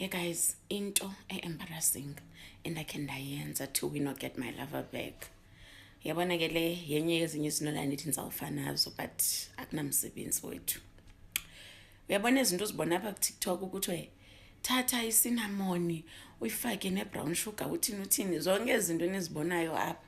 Hey guys, into e-embarrassing endakhe ndayenza to win or get my lover back. Yabona ke le yenye yezinye izinto ndandithi ndizawufa nazo but akunamsebenzi wethu. Uyabona izinto uzibona apha kuTikTok ukuthi thatha isinamoni uyifake ne-brown sugar uthini uthini zonke ezi zinto enizibonayo apha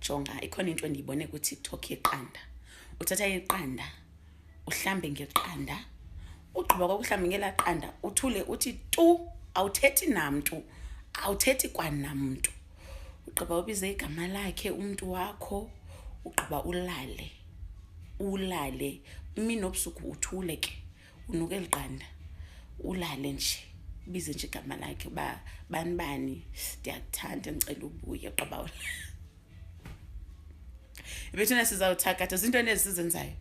jonga ikhona into endiyibone kutiktok yeqanda uthatha iqanda uhlambe ngeqanda ugqiba kwakuhlambe ngelaa qanda uthule uthi tu awuthethi namntu awuthethi kwanamntu ugqiba ubize igama lakhe umntu wakho ugqiba ulale ulale mini obusuku uthule ke unuka eli qanda ulale nje bize nje igama lakhe uba bani bani ndiyakuthanda ndicela ubuye qabawula ibethuna sizawuthakatha ziinto nezi sizenzayo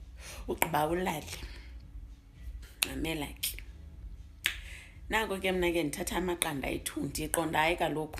ugqiba ulale nqamela ke nako ke mna ke ndithatha amaqanda ethundi iqonda hayi kaloku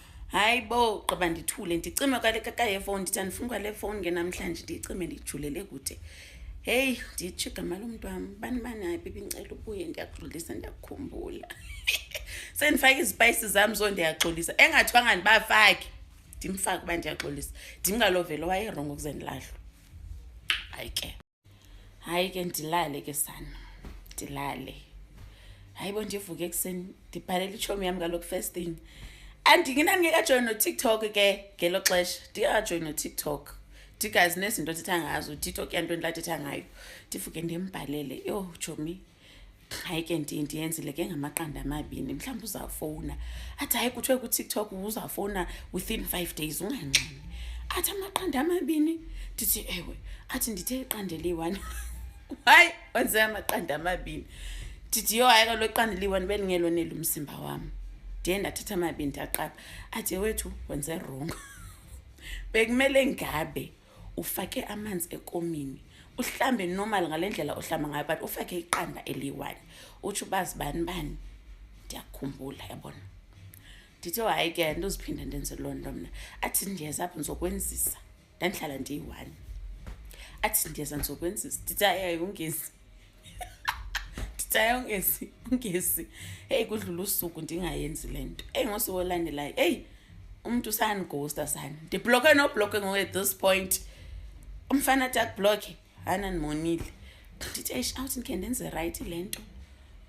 hayi bo gqiba ndithule ndicime kwalekakayefowuni ndithi andifuni kwale fowuni ke namhlanje ndiyicime ndijulele kude heyi nditsho igama lomntu wam bani bani hayi bibi ndicela ubuye ndiyaxolisa ndiyakukhumbula sendifake izipayisi zam zo ndiyaxolisa engathwanga ndibafake ndimfake uba ndiyaxolisa ndimngalovelo wayerongo kuze ndilahlwe hayi ke hayi ke ndilale ke sana ndilale hayi bo ndivuke ekuseni ndibhalela itshomi yam kaloku first thing andinginani ngekajoyini notiktok ke ngelo xesha ndingekajoyini notiktok ndigazi nezinto athetha ngazo utiktok yanto endilathetha ngayo ndivuke ndimbhalele yho jomi oh, hayi ke ndinti yenzile ke ngamaqanda amabini mhlawumbi uzawufowuna athi hayi kuthiwe kutiktok uzawufowuna within five days ungangxini athi amaqanda amabini ndithi ewe athi ndithe iqanda eliyi-one hayi wenze amaqanda amabini ndithi yho hayi kalo iqanda eliyi-one bendingeloneli umzimba wam ndiye ndathatha amabini ndaqapha athi wethu wenze rongo bekumele ngabe ufake amanzi ekomini uhlambe normal ngale ndlela ohlamba ngayo but ufake iqanda eliyi-one utsho uba zibani bani ndiyakhumbula yabona ndithe hayi ke ndoziphinda ndenze loo nto mna athi ndiyeza apho ndizokwenzisa ndandihlala ndiyi-one athi ndiyeza ndizokwenzisa ndithi hayi ayungezi nditsayo ngesi ngesi heyi kudlula usuku ndingayenzi le nto eyi ngosuku olandelayo eyi umntu sandighosta sani ndibloke nobloke ngoku at this point umfana athi akubloke hana ndimonile ndithi eish awuthi ndikhe ndenze rayithi le nto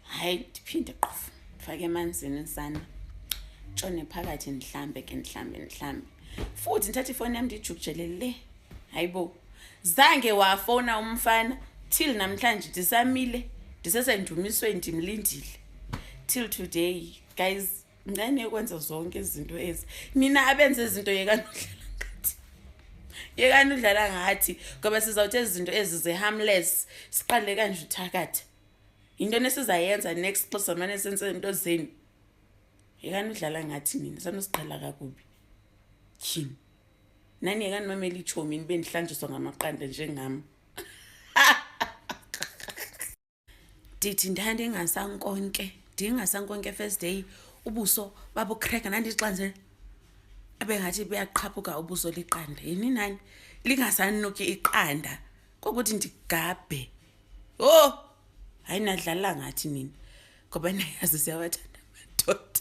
hayi ndiphinde qofu ndifake emanzini sana tshone phakathi ndihlambe ke ndihlambe ndihlambe futhi ndithathe ifowuni yam ndiyijukujele le hayibo zange wafona umfana till namhlanje ndisamile ndisesendumisweni ndimlindile till today guys ncane ukwenza zonke izinto ezi nina abenze izinto yekani udlala ngathi yekani udlala ngathi ngoba sizawuthi ezi zinto ezi ze-harmless siqale kanje uthakatha yinto nesizayenza next xa sizamane senze into zenu yekani udlala ngathi nina sanosiqala kakubi tyhini naniyekaninomela itshomi nibe ndihlanjiswa ngamaqanda njengam ndithi ndandingasankonke ndingasankonke first day ubuso babukreka nandixanze abe ngathi buyaqhaphuka ubuso liqanda yini nani lingasanuki iqanda kokuthi ndigabhe o oh! hayi nadlala ngathi nini ngoba nayazi siyawathanda amadoda